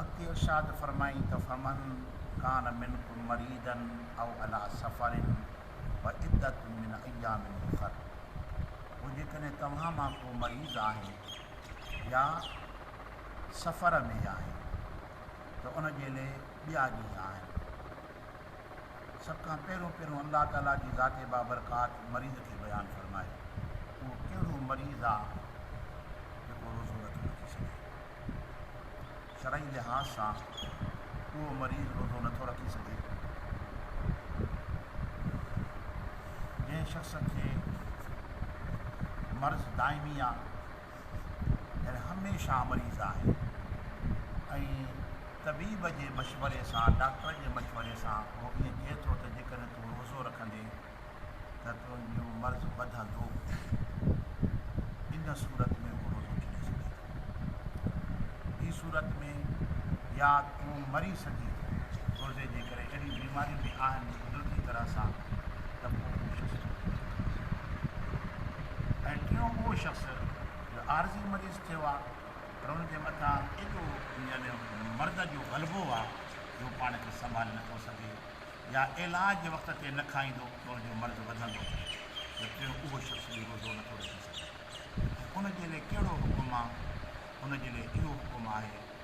اڳتي ارشاد فرمائين ته فمن ڪان منڪم مريضا او علي سفر فعدة من ايام اخر پوء جيڪڏهن توهان مان ڪو مريض آهي يا سفر ۾ آهي ته ان جي لئه ٻيا ڏينهن آهن. سڀ کان پهريون پهريون الله تعالي جي ذات بابرڪات مريض کي بيان فرمائي اهو ڪهڙو مريض آ جيڪو روزو نٿو رکي سگهي شرعي لحاظ سان اهو مريض روزو نٿو رکي سگهي جنهن شخص کي مرض دائمي آ ڄڻ هميشه مريض آهي ۽ طبيب جي مشوري سان، ڊاڪٽر جي مشوري سان اهو ائين چئي ٿو ته جيڪڏهن تون روزو رکندين ته تنهنجو مرض وڌندو. ان صورت ۾ هو روزو ڇڏي سگهي ٿو. ٻي صورت ۾ يا تون مري سگهين ٿو. روزي جي ڪري اهڙيون بيماريون به آهن قدرتي طرح سان ته پوء هو شخص روزو ڇڏي ٿو سگهي. ۽ ٽيون اهو شخص جو عارضي مريض ٿيو آ پر ان جي مٿان ايڏو يعني مرض جو غلبو آ جو هو پاڻ کي سنڀالي نه ٿو سگهي يا عيلاج جي وقت تي نه کائيندو ته ان جو مرض وڌندو ته ٽيون اهو شخص به روزو نه ٿو رکي سگهي ۽ ان جي لئه ڪهڙو حڪم آ ان جي لئه اهو حڪم آهي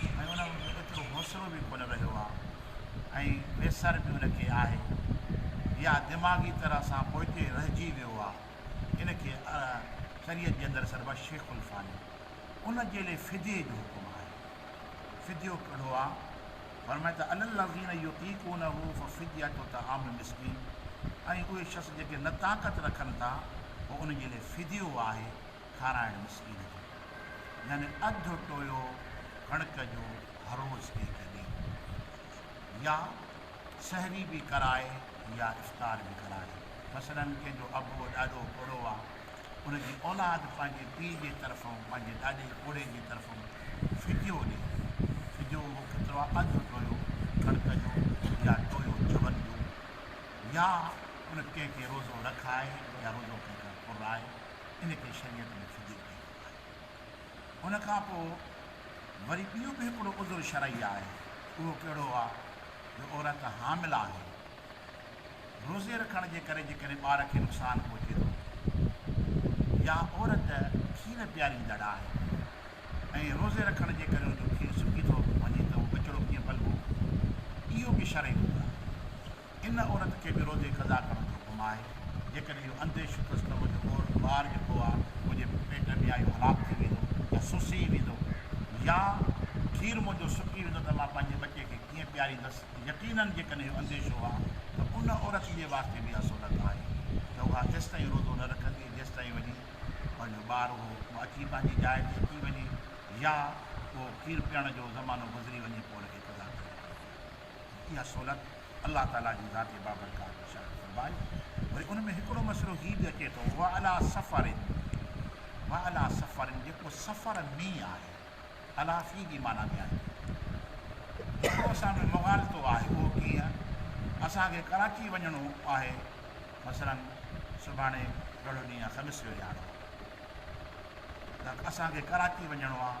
۽ ان وٽ ايترو حوصلو به ڪونه رهيو آهي ۽ ويسر به ان کي آهي يا دماغي طرح سان پوئتي رهجي ويو آهي ان کي شريعت جي اندر سڏبو شيخ الفاني ان جي لئي فديي جو حڪم آهي فديو ڪهڙو آهي فرمائي ته علي الذين يطيقونه ففديه طعام مسڪين ۽ اهي شخص جيڪي نه طاقت رکن ٿا پوء ان جي لئي فديو آهي کارائڻ مسڪين جو، يعني اڌ ٽويو ڪڻڪ جو هروز ڪنهنکي ڏي، يا سحري به ڪرائي يا افطار به ڪرائي، مثلاً ڪنهن جو ابو ڏاڏو پوڙهو آ، ان جي اولاد پنهنجي پيء جي طرفون پنهنجي ڏاڏي پوڙهي جي طرفون فديو ڏي، فديو اهو ڪيترو آ، اڌ ٽويو ڪڻڪ جو يا ٽويو چون جو، يا ان ڪنهن کي روزو رکائي يا روزو ڪنهن کان پورائي. ان کي شريعت ۾ فجور چئي ويندو آهي. ان کان پوء وري ٻيو به هڪڙو عذر شرعي آهي، اهو ڪهڙو آهي جو عورت حامل آهي، روزي رکڻ جي ڪري جيڪڏهن ٻار کي نقصان پهچي ٿو يا عورت کير پياريندڙ آهي ۽ روزي رکڻ جي ڪري ان جو کير سڪي ٿو وڃي ته اهو ٻچڙو ڪيئن پلبو، اهو به شرعي عذر آهي. ان عورت کي به روزي قضا ڪرڻ جو حڪم آهي، جيڪڏهن اهو انديشو اٿس ته منهنجو عورت ٻار ڄڪو آهي، منهنجي پيٽ ۾ يا اهو هلاڪ ٿي ويندو يا سسي ويندو يا کير منهنجو سڪي ويندو ته مان پنهنجي ٻچي کي ڪيئن پياريندس ته يقينن جيڪڏهن اهو انديشو آهي ته ان عورت جي واسطي به اها سنت آهي ته اها تيستائين روزو نه رکندي جيستائين وڃي پنهنجو ٻار اهو اچي پنهنجي جاء تي اچي وڃي يا اهو کير پيئڻ جو زمانو گذري وڃي پوء ان کي قضا ڪرڻي پوندي. اها سهولت الله تعاليٰ جي ذات بابرڪات بشارت فرمائي. وري ان ۾ هڪڙو مسئلو هي به اچي ٿو وعليٰ سفر وعليٰ سفر جيڪو سفر ۾ آهي عليٰ في جي معنيٰ ۾ آهي هڪڙو اسان ۾ مغالطو آهي اهو ڪيئن اسان کي ڪراچي وڃڻو آهي مثلاً سڀاڻي ڪهڙو ڏينهن آهي خميس جو ڏيهاڙو آهي اسان کي ڪراچي وڃڻو آهي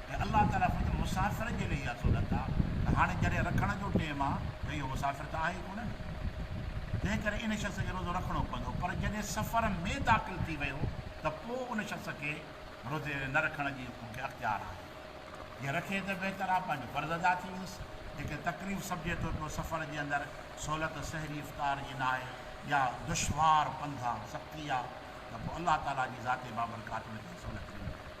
۽ الله تعاليٰ خود مسافر جي لئي اها سهولت آ ته هاڻي جڏهن رکڻ جو ٽيم آ ته اهو مسافر ته آهي ئي ڪونه نه تنهن ڪري ان شخص کي روزو رکڻو پوندو پر جڏهن سفر ۾ داخل ٿي ويو ته پوء ان شخص کي روزي نه رکڻ جي ان کي اختيار آهي جي رکي ته بهتر آ پنهنجو فرض ادا ٿي ويس جيڪڏهن تڪليف سمجهي ٿو پيو سفر جي اندر سهولت سحري افطار جي ناهي يا دشوار پنڌ آ سختي آ ته پوء الله تعاليٰ جي ذات بابرڪات ان کي سهولت ڏني آهي.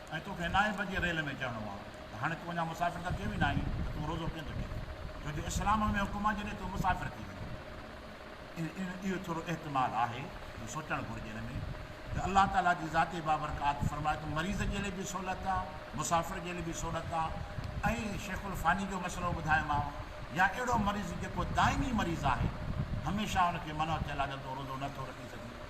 ۽ تو کي نائين بجي ريل ۾ چڙهڻو آ ته هاڻي تون اڃا مسافر ته ٿيو ئي ناهين ته تون روزو ڪيئن ٿو ڇڏين ڇو جو اسلام ۾ حڪم آ جڏهن تو مسافر ٿي وڃين اهو ٿورو احتمال آهي جو سوچڻ گهرجي ان ۾ ته الله تعالي جي ذاتي بابرڪات فرمائي ته مريض جي لئي به سهولت آ مسافر جي لئي به سهولت آ ۽ شيخ الفاني جو مسئلو ٻڌايو ماء يا اهڙو مريض جيڪو دائمي مريض آهي هميشه ان کي منع ٿيل آ ته تو روزو نه ٿو رکي سگهين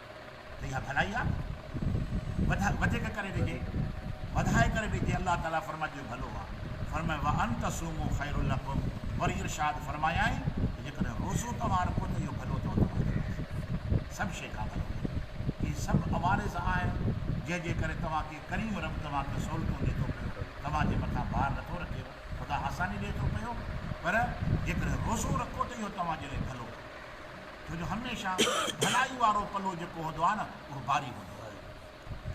ته اها ڀلائي آ وڌ وڌيڪ ڪري ڏجي وڌائي ڪري ڏجي الله تعالي فرمائي جو ڀلو آ فرمائي وان تصومو خير لکم وري ارشاد فرمايائين ته جيڪڏهن روزو توهان رکو ته اهو ڀلو اٿو توهان جي لاء سڀ شي کان ڀلو اهي سڀ عوارض آهن جنهن جي ڪري توهان کي ڪريم رب توهان کي سهولتون ڏي ٿو پيو توهان جي مٿان بار نٿو رکيو خدا آساني ڏي ٿو پيو پر جيڪڏهن روزو رکو ته اهو توهان جي لاء ڀلو ڇو جو هميشه ڀلائي وارو پلو جيڪو هوندو آهي نه اهو باري هوندو آهي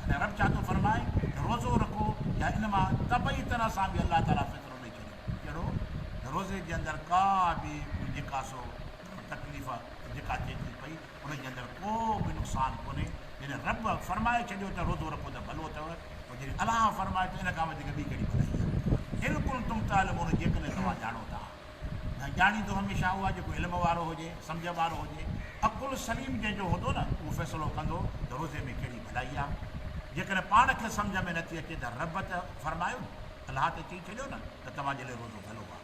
تڏهن رب ڇا ٿو فرمائي ته روزو رکو يا ان مان طبعي طرح سان به الله تعالي فطرو ڏئي ڇڏيو ڪهڙو ته روزي جي اندر ڪا به ڪوئي جيڪا سو تڪليف جيڪا ٿئي ٿي پئي ان جي اندر ڪو به نقصان ڪونهي جڏهن رب فرمائي ڇڏيو ته روزو رکو ته ڀلو اٿو پوء جڏهن الله فرمائي ته ان کان وڌيڪ ٻي ڪهڙي ڀلائي آهي ان ڪن تم تعلمون جيڪڏهن توهان ڄاڻو ٿا ۽ ڄاڻي ٿو هميشه اها جيڪو علم وارو هجي، سمجهه وارو هجي، عقل سليم جنهن جو هوندو نه اهو فيصلو ڪندو ته روزي ۾ ڪهڙي ڀلائي آ. جيڪڏهن پاڻ کي سمجهه ۾ نٿي اچي ته رب ته فرمايو نه، الله ته چئي ڇڏيو نه ته توهان جي لئه روزو ڀلو آ.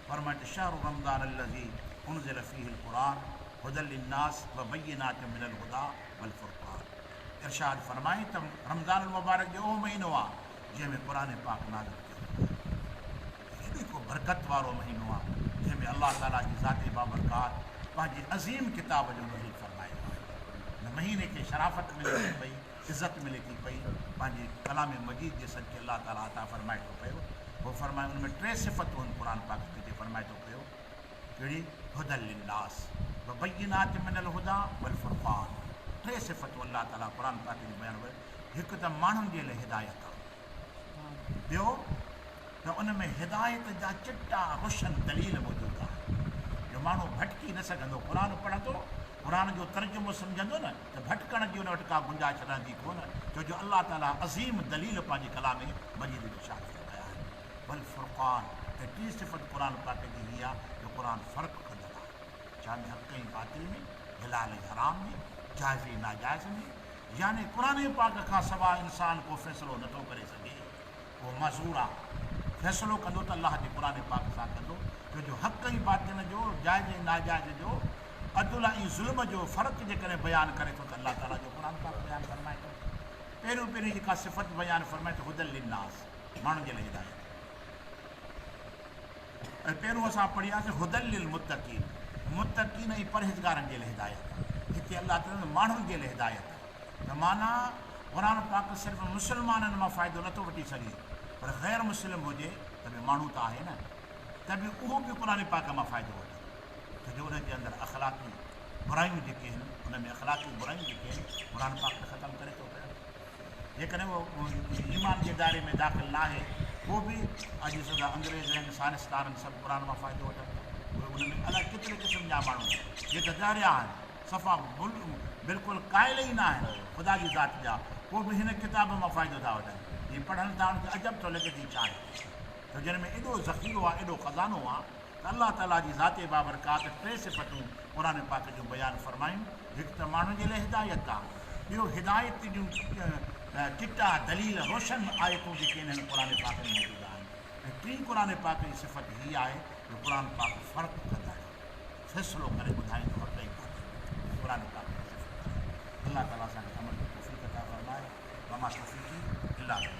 فرمائن شهر رمضان الذي انزل فيه القرآن هدي للناس وبينات من الهدي والفرقان ارشاد فرمائين ته رمضان المبارڪ جو اهو مهينو آ جنهن ۾ قرآن پاڪ نازل ڪيو ويو آهي. هي به هڪ برڪت وارو مهينو آهي، جنهن ۾ الله تعاليٰ جي ذات بابرڪات پنهنجي عظيم ڪتاب جو نزول فرمايو آهي. هن مهيني کي شرافت ملي ٿي پئي، عزت ملي ٿي پئي، پنهنجي ڪلام مجيد جي صدقي الله تعاليٰ عطا فرمائي ٿو پيو. هو فرمائي ان ۾ ٽي صفتون آهن قرآن پاڪ ۾ جي فرمائي ٿو پيو، ڪهڙي؟ هدًا للناس وبينات من الهدٰي والفرقان، ٽي صفتون الله تعاليٰ قرآن پاڪ جون بيان فرمايون، هڪ ته ماڻهن جي لاء هدايت آهي. ٻيو ته ان ۾ هدايت جا چٽا روشن دليل موجود آهن جو ماڻهو ڀٽڪي نه سگهندو، قرآن پڙهندو، قرآن جو ترجمو سمجهندو نه ته ڀٽڪڻ جي ان وٽ ڪا گنجائش رهندي ڪونه ڇو جو الله تعاليٰ عظيم دليل پنهنجي ڪلام مجيد ۾ شاهه ٿي رکايا آهن. والفرقان ۽ ٽين صفت قرآن پاڪ جي هي آهي جو قرآن فرق ڪندڙ آهي ڇا ۾ حق ۽ باطل ۾، حلال ۽ حرام ۾، جائز ۽ ناجائز ۾، يعني قرآن پاڪ کان سواء انسان ڪو فيصلو نٿو ڪري سگهي، اهو معذور آهي. فيصلو ڪندو ته الله جي قرآن پاڪ سان ڪندو، ڇو جو حق ۽ باطل جو، جائز ۽ ناجائز جو، عدل ۽ ظلم جو فرق جيڪڏهن بيان ڪري ٿو ته الله تعاليٰ جو قرآن پاڪ بيان فرمائي ٿو. پهريون پهريون جيڪا صفت بيان فرمائي ته هدًا للناس، ماڻهن جي لاء هدايت. ۽ پهريون اسان پڙهياسين هدًا للمتقين متقين ۽ پرهيزگارن جي لاء هدايت آهي هتي الله چوندو آهي ماڻهن جي لاء هدايت آهي ته معنيٰ قرآن پاڪ صرف مسلمانن مان فائدو نٿو وٺي سگهي پر غير مسلم هجي ته به ماڻهو ته آهي نه ته به اهو به قرآن پاڪ مان فائدو وٺندو ڇو جو ان جي اندر اخلاقي برايون جيڪي آهن ان ۾ اخلاقي برايون جيڪي آهن قرآن پاڪ ته ختم ڪري ٿو پيو. جيڪڏهن اهو ايمان جي دائري ۾ داخل ناهي پوء به اڄ ڏسو ته انگريز ۽ سائنسدان سڀ قرآن مان فائدو وٺن ٿا اهي ان ۾ الائي ڪيتري قسم جا ماڻهو جي ته ڳهريا آهن صفا بلڪل قائل ئي ناهن خدا جي ذات جا پوء به هن ڪتاب مان فائدو ٿا وٺن جي پڙهن ٿا ان کي عجب ٿو لڳي ته هي ڇا آهي جو جن ۾ ايڏو ذخيرو آهي ايڏو خزانو آهي ته الله تعالي جي ذاتي بابرڪات ٽي صفتون قرآن پاڪ جون بيان فرمايون، هڪ ته ماڻهن جي لاء هدايت آ، ٻيو هدايت جون چٽا دليل روشن آيتون جيڪي انهن قرآن پاڪ ۾ موجود آهن ۽ ٽين قرآن پاڪ جي صفت هي آهي جو قرآن پاڪ فرق ڪندڙ، فيصلو ڪري ٻڌائيندو حق ۽ باطل جو قرآن پاڪ جي صفت آهي. الله تعالي اسان کي عمل جي توفيق عطا فرمائي وما توفيقي الا بالله.